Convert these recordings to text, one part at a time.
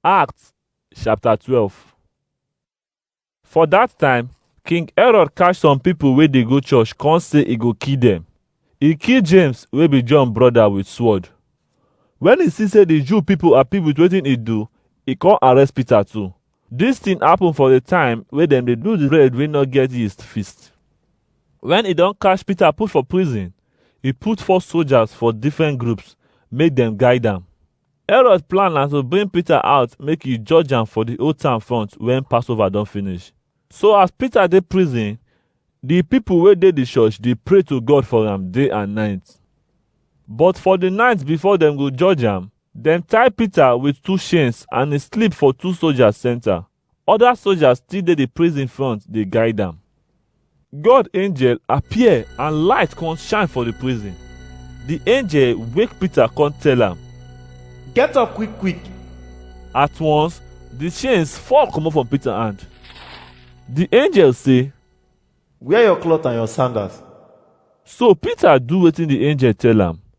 Acts chapter 12 For dat time, King Herod catch some pipo wey dey go church con say e go kill dem. E kill James wey be John broda with sword. Wen e see say di Jew pipo happy with wetin e do, e con arrest Peter too. Dis tin happen for di time wey dem dey do di bread wey no get yeast feast. Wen e don catch Peter put for prison, e put four soldiers for different groups make dem guide am. Herod plan na to bring Peter out make e judge am for the old town front when Passover don finish. So as Peter dey prison, the people wey dey the church dey pray to God for am day and night. But for the night before dem go judge am, dem tie Peter with two chains and he sleep for two soldiers center. Other soldiers still dey the prison front dey guide am. God angel appear and light come shine for the prison. The angel wake Peter come tell am. Get up quick quick. At once, the chains fall comot from Peter hand. The angel say, Wear your cloth and your sandals. So Peter do wetin the angel tell am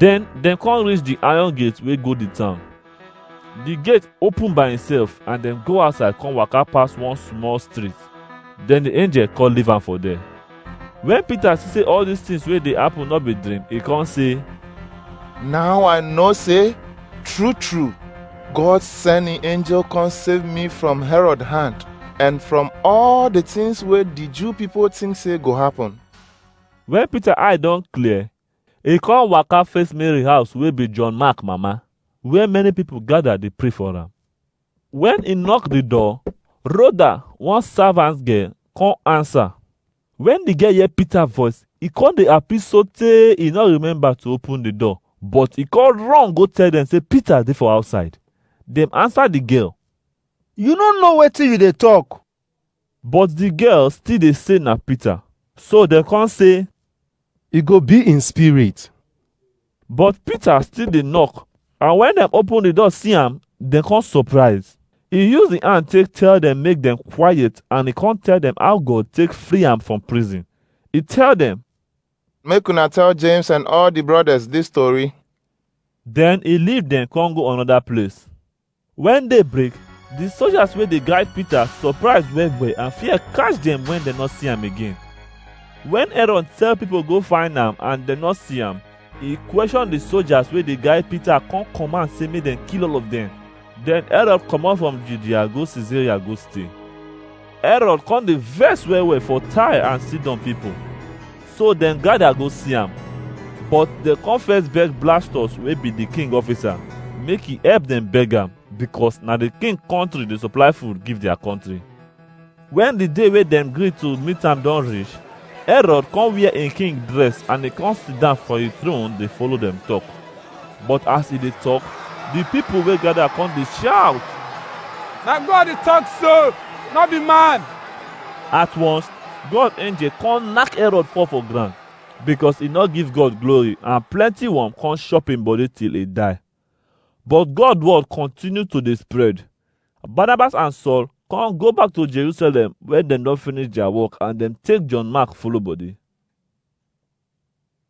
Den dem come reach di iron gate wey go di town. Di gate open by imself and dem go outside come waka pass one small street. Den di angel come leave am for there. Wen Peter see sey all dis tins wey dey happen no be dream, e come say, Now I know say true true God send him angel come save me from Herod hand and from all the things wey the Jew people think say go happen. Wen Peter eye don clear, E come waka face Mary house wey be John Mark mama, where many people gather dey pray for am. When e knock the door, Rhoda, one servant girl, come answer. When the girl hear Peter voice, e come dey happy sotey e no remember to open the door, but e come run go tell dem say Peter dey for outside. Dem answer the girl. You no know wetin you dey talk. But the girl still dey say na Peter. So dem come say, E go be in spirit. but Peter still dey knock. And when dem open the door see am, dem come surprise. He use the hand take tell them make them quiet and he come tell them how God take free am from prison. He tell them, Make una tell James and all the brothers this story. then he leave them come go another place. Wen day break, di soldiers wey dey guide Peter surprise well well and fear catch dem wen dem no see am again. Wen Aaron tell pipo go find am and dem no see am, e question di soldiers wey dey guide Peter come command sey make dem kill all of dem. Den Aaron comot from Judea go Cesaria go stay. Herod come dey vex well well for Tyre and Sidon people. So dem gather go see am. But dem come first beg Blastus wey be the king officer make he help dem beg am because na the king country dey supply food give their country. When the day wey dem gree to meet am don reach, Herod come wear im king dress and e come sit down for im throne dey follow dem talk. But as e dey talk, the people wey gather come dey shout. Na God dey talk so, no be man. At once, God angel come knack Herod fall for ground because e no give God glory and plenty worm come chop im body till e die. But God word continue to dey spread. Barnabas and Saul come go back to Jerusalem where dem don finish their work and dem take John Mark follow body.